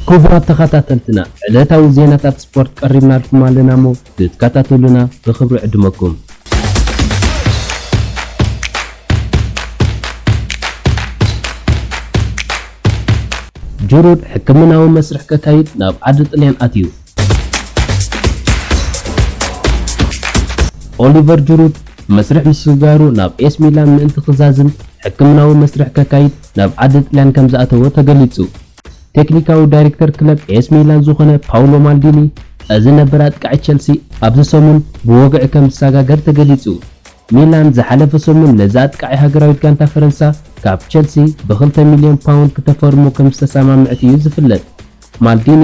ክቡራት ተኸታተልትና ዕለታዊ ዜናታት ስፖርት ቀሪብናልኩም ኣለና እሞ ንትካታተሉና ብክብሪ ዕድመኩም። ጁሩድ ሕክምናዊ መስርሕ ከካይድ ናብ ዓዲ ጥልያን ኣትዩ። ኦሊቨር ጁሩድ መስርሕ ምስግጋሩ ናብ ኤስ ሚላን ምእንቲ ክዛዝም ሕክምናዊ መስርሕ ከካይድ ናብ ዓዲ ጥልያን ከምዝኣተወ ተገሊጹ። ቴክኒካዊ ዳይሬክተር ክለብ ኤስ ሚላን ዝኾነ ፓውሎ ማልዲኒ፣ እዚ ነበር ኣጥቃዒ ቸልሲ ኣብዚ ሰሙን ብወግዒ ከም ዝሰጋገር ተገሊጹ። ሚላን ዝሓለፈ ሰሙን ነዚ ኣጥቃዒ ሃገራዊት ጋንታ ፈረንሳ ካብ ቸልሲ ብክልተ ሚልዮን ፓውንድ ክተፈርሞ ከም ዝተሰማምዐት እዩ ዝፍለጥ። ማልዲኒ፣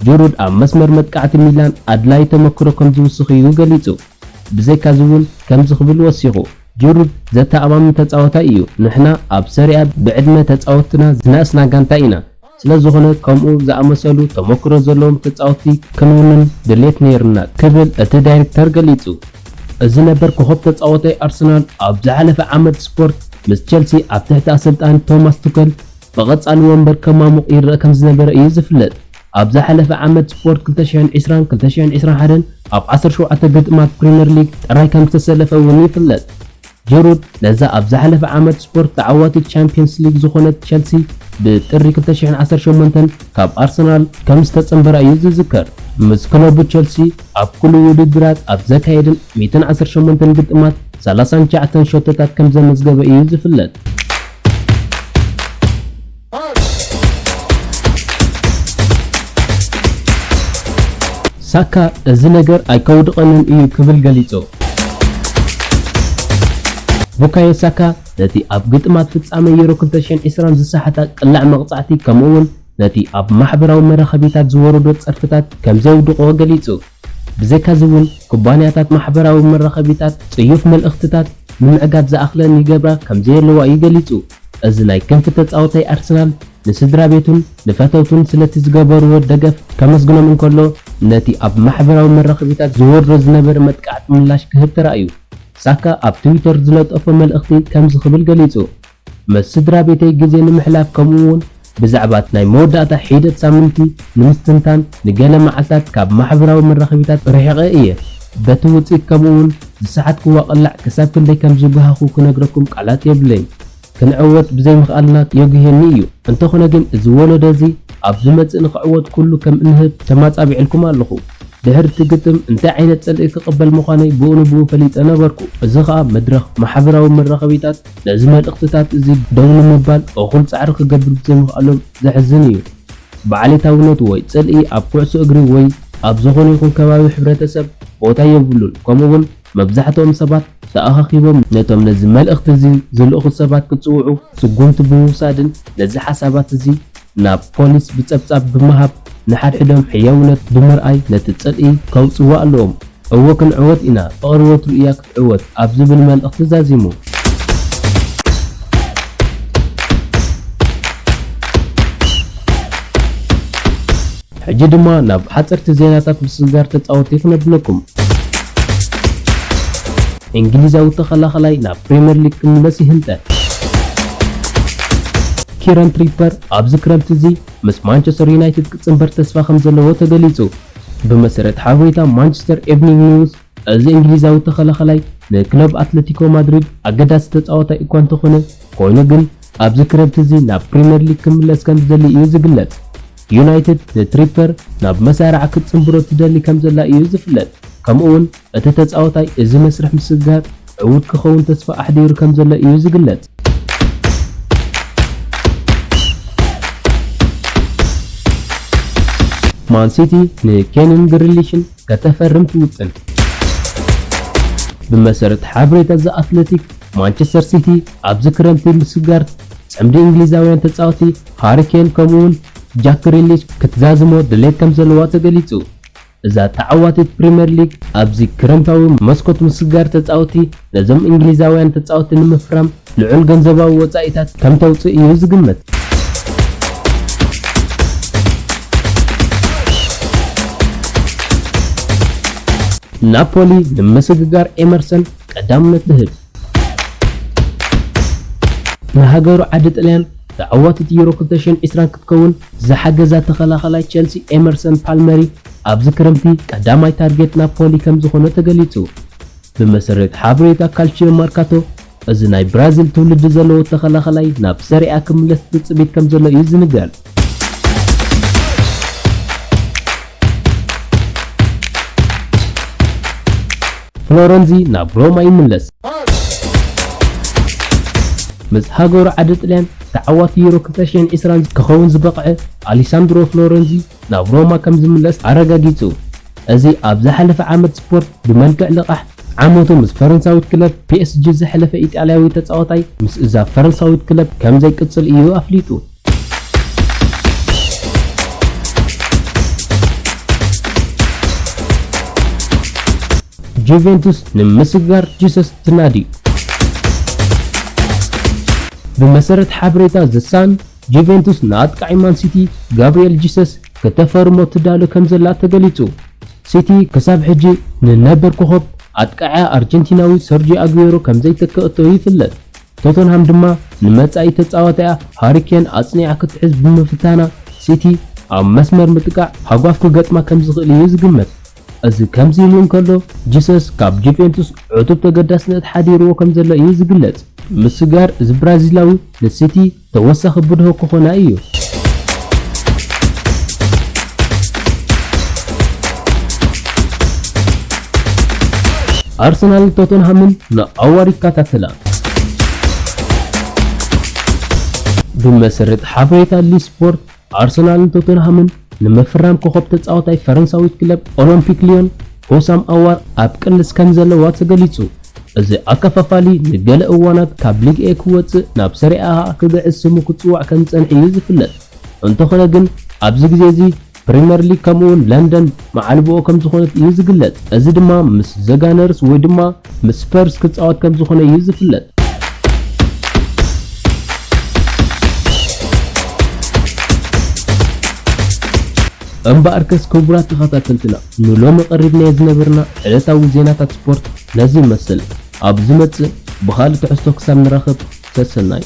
ጅሩድ ኣብ መስመር መጥቃዕቲ ሚላን ኣድላዪ ተመክሮ ከም ዝውስኽ እዩ ገሊጹ። ብዘይካ'ዚ'ውን ከምዚ ክብል ወሲኹ። ጂሩድ ዘተኣማምን ተጻዋታይ እዩ፣ ንሕና ኣብ ሰሪኣ ብዕድመ ተጻወትትና ዝነኣስና ጋንታ ኢና፣ ስለዝኾነ ከምኡ ዝኣመሰሉ ተሞክሮ ዘለዎም ተጻወትቲ ክንውንን ድሌት ነይሩና ክብል እቲ ዳይሬክተር ገሊጹ። እዚ ነበር ኮኾብ ተጻዋታይ ኣርሰናል ኣብ ዝሓለፈ ዓመት ስፖርት ምስ ቸልሲ ኣብ ትሕቲ ኣሰልጣኒ ቶማስ ቱከል ብቐጻሊ ወንበር ከማሙቕ ይረኣ ከምዝነበረ እዩ ዝፍለጥ። ኣብ ዝሓለፈ ዓመት ስፖርት ክልተ ሽሕን ዕስራን ክልተ ሽሕን ዕስራን ሓደን ኣብ ዓሰርተ ሸውዓተ ግጥማት ፕሪመር ሊግ ጥራይ ከምዝተሰለፈ እውን ይፍለጥ። ጂሩድ ነዛ ኣብ ዝሓለፈ ዓመት ስፖርት ተዓዋቲት ቻምፕየንስ ሊግ ዝኾነት ቸልሲ ብጥሪ ክልተ ሽሕን ዓሰርተ ሸሞንተን ካብ ኣርሰናል ከምዝተጸንበራ እዩ ዝዝከር። ምስ ክለቡ ቸልሲ ኣብ ኩሉ ውድድራት ኣብ ዘካየደን ሚእትን ዓሰርተ ሸሞንተን ግጥማት ሰላሳን ትሽዓተን ሸቶታት ከምዘመዝገበ እዩ ዝፍለጥ። ሳካ እዚ ነገር ኣይከውድቐንን እዩ ክብል ገሊጹ። ቡካዮ ሳካ ነቲ ኣብ ግጥማት ፍጻመ ዩሮ ክልተ ሽሕን ዕስራን ዝሰሓታ ቅላዕ መቕጻዕቲ ከምኡ'ውን ነቲ ኣብ ማሕበራዊ መራኸቢታት ዝወረዶ ጸርፍታት ከምዘውድቖ ገሊጹ። ብዘይካዚ እውን ኩባንያታት ማሕበራዊ መራኸቢታት ጽዩፍ መልእኽትታት ንምዕጋት ዝኣኽለን ይገብራ ከም ዘየለዋ እዩ ገሊጹ። እዚ ናይ ክንፊ ተጻወታይ ኣርሰናል ንስድራቤቱን ንፈተውቱን ስለቲ ዝገበርዎ ደገፍ ከመስግኖም እንከሎ፣ ነቲ ኣብ ማሕበራዊ መራኸቢታት ዝወርዶ ዝነበረ መጥቃዕቲ ምላሽ ክህብ ተራእዩ። ሳካ ኣብ ትዊተር ዝለጠፎ መልእኽቲ ከምዚ ክብል ገሊጹ። ምስ ስድራቤተይ ግዜ ንምሕላፍ ከምኡውን ብዛዕባት ናይ መወዳእታ ሒደት ሳምንቲ ንምስትንታን ንገለ መዓልታት ካብ ማሕበራዊ መራኸቢታት ርሒቐ እየ። በቲ ውጽኢት ከምኡውን ዝሰሓትክዎ ቅላዕ ክሳብ ክንደይ ከም ዝጕሃኹ ክነግረኩም ቃላት የብለይን። ክንዕወት ብዘይምኽኣልና የጕህየኒ እዩ። እንተዀነ ግን እዚ ወለዶ እዚ ኣብ ዝመጽእ ንኽዕወት ኵሉ ከም እንህብ ተማጻቢዕልኩም ኣለኹ። ድሕሪ እቲ ግጥም እንታይ ዓይነት ጽልኢ ክቕበል ምዃነይ ብኡንብኡ ፈሊጠ ነበርኩ፣ እዚ ኸኣ መድረኽ ማሕበራዊ መራኸቢታት፣ ነዚ መልእኽትታት እዚ ደው ንምባል እኹል ጻዕሪ ክገብር ብዘይምኽኣሎም ዘሕዝን እዩ። ብዓሌታዊነት ወይ ጽልኢ ኣብ ኩዕሶ እግሪ ወይ ኣብ ዝኾነ ይኹን ከባቢ ሕብረተሰብ ቦታ የብሉን፣ ከምኡ'ውን መብዛሕትኦም ሰባት ተኣኻኺቦም ነቶም ነዚ መልእኽቲ እዚ ዝልእኹ ሰባት ክጽውዑ ስጉምቲ ብምውሳድን ነዚ ሓሳባት እዚ ናብ ፖሊስ ብጸብጻብ ብምሃብ ንሓድሕዶም ሕያውነት ብምርኣይ ነቲ ጽልኢ ከውጽእዎ ኣለዎም። እወ ክንዕወት ኢና ፍቅሪ ወትሩ ኢያ ዕወት ኣብ ዝብል መልእኽቲ ዛዚሙ። ሕጂ ድማ ናብ ሓጸርቲ ዜናታት ምስግጋር ተጻወትቲ ክነብለኩም። እንግሊዛዊ ተኸላኸላይ ናብ ፕሪመር ሊግ ክምለስ ይህንጠ። ኪረን ትሪፐር ኣብዚ ክረምቲ እዚ ምስ ማንቸስተር ዩናይትድ ክጽንበር ተስፋ ከምዘለዎ ተገሊጹ። ብመሰረት ሓበሬታ ማንቸስተር ኤቭኒንግ ኒውስ፣ እዚ እንግሊዛዊ ተኸላኻላይ ንክለብ ኣትለቲኮ ማድሪድ ኣገዳሲ ተጻዋታይ እኳ እንተኾነ፣ ኮይኑ ግን ኣብዚ ክረምቲ እዚ ናብ ፕሪመር ሊግ ክምለስ ከምዝደሊ እዩ ዝግለጽ። ዩናይትድ ንትሪፐር ናብ መሳርዓ ክትጽንብሮ ትደሊ ከምዘላ እዩ ዝፍለጥ፣ ከምኡ'ውን እቲ ተጻዋታይ እዚ መስርሕ ምስግጋር ዕዉት ክኸውን ተስፋ ኣሕዲሩ ከምዘሎ እዩ ዝግለጽ። ማን ሲቲ ንኬንን ግሪሊሽን ከተፈርም ትውጥን። ብመሰረት ሓበሬታ ዘ ኣትለቲክ፣ ማንቸስተር ሲቲ ኣብዚ ክረምቲ ምስጋር ጽምዲ እንግሊዛውያን ተጻወቲ ሃሪ ኬን ከምኡ'ውን ጃክ ግሪሊሽ ክትዛዝሞ ድሌት ከምዘለዋ ተገሊጹ። እዛ ተዓዋቲት ፕሪመር ሊግ ኣብዚ ክረምታዊ መስኮት ምስጋር ተጻወቲ ነዞም እንግሊዛውያን ተጻወቲ ንምፍራም ልዑል ገንዘባዊ ወጻኢታት ከም ተውጽእ እዩ ዝግመት። ናፖሊ ንምስግጋር ኤመርሰን ቀዳምነት ትህብ። ንሃገሩ ዓዲ ጥልያን ተዓዋቲት ዩሮ ክልተ ሽሕን ዕስራን ክትከውን ዝሓገዛ ተኸላኻላይ ቸልሲ ኤመርሰን ፓልመሪ ኣብዚ ክረምቲ ቀዳማይ ታርጌት ናፖሊ ከምዝኾነ ተገሊጹ። ብመሰረት ሓበሬታ ካልቺዮ መርካቶ፣ እዚ ናይ ብራዚል ትውልዲ ዘለዎ ተኸላኸላይ ናብ ሰሪኣ ክምለስ ትጽቢት ከምዘሎ እዩ ዝንገር። ፍሎረንዚ ናብ ሮማ ይምለስ። ምስ ሃገሩ ዓዲ ጥልያን ተዓዋቲ ዩሮ ክልተ ሽሕን ዒስራን ክኸውን ዝበቕዐ ኣሊሳንድሮ ፍሎረንዚ፣ ናብ ሮማ ከም ዝምለስ ኣረጋጊጹ። እዚ ኣብ ዝሓለፈ ዓመት ስፖርት ብመልክዕ ልቓሕ፣ ዓመቱ ምስ ፈረንሳዊት ክለብ ፒኤስጂ ዘሕለፈ ኢጣልያዊ ተጻዋታይ ምስ እዛ ፈረንሳዊት ክለብ ከም ዘይቅጽል እዩ ኣፍሊጡ። ጁቬንቱስ ንምስግጋር ጂሰስ ትናዲ። ብመሰረት ሓበሬታ ዘ ሳን፣ ጁቬንቱስ ንኣጥቃዒ ማን ሲቲ ጋብሪኤል ጂሰስ ክተፈርሞ ትዳሎ ከምዘላ ተገሊጹ። ሲቲ ክሳብ ሕጂ ንነበር ኮኾብ ኣጥቃዒኣ ኣርጀንቲናዊ ሰርጂዮ ኣጉዌሮ ከምዘይተከኣቶ ይፍለጥ። ቶተንሃም ድማ ንመጻኢ ተጻዋታኣ ሃሪ ኬን ኣጽኒዓ ክትሕዝ ብምፍታና ሲቲ ኣብ መስመር ምጥቃዕ ሃጓፍ ክገጥማ ከምዝኽእል እዩ ዝግመት። እዚ ከምዚ ኢሉ እንከሎ ጂሰስ ካብ ጁቬንቱስ ዕቱብ ተገዳስነት ሓዲርዎ ከምዘሎ እዩ ዝግለጽ። ምስጋር እዚ ብራዚላዊ ንሲቲ ተወሳኺ ብድሆ ክኾና እዩ። ኣርሰናልን ቶተንሃምን ንኣዋር ይከታተላ። ብመሰረት ሓበሬታ ሊስፖርት፣ ኣርሰናልን ቶተንሃምን ንምፍራም ኮኾብ ተጻዋታይ ፈረንሳዊት ክለብ ኦሎምፒክ ልዮን ሆሳም ኣዋር ኣብ ቅልስ ከምዘለዋ ተገሊጹ። እዚ ኣከፋፋሊ ንገለ እዋናት ካብ ሊግ ኤ ክወጽእ ናብ ሰሪኣ ከኣ ክግዕዝ ስሙ ክጽዋዕ ከምዝጸንሐ'ዩ ዝፍለጥ። እንተኾነ ግን ኣብዚ ግዜ'ዚ ፕሪመር ሊግ ከምኡ'ውን ለንደን መዓልቦኦ ከም ዝኾነት እዩ ዝግለጽ። እዚ ድማ ምስ ዘ ጋነርስ ወይ ድማ ምስ ስፐርስ ክጻወት ከም ዝኾነ እዩ ዝፍለጥ። እምበኣርከስ ክቡራት ተኸታተልትና ንሎሚ ቀሪብናዮ ዝነበርና ዕለታዊ ዜናታት ስፖርት ነዚ ይመስል። ኣብ ዝመጽእ ብኻልእ ትሕዝቶ ክሳብ ንራኸብ ሰሰናዩ።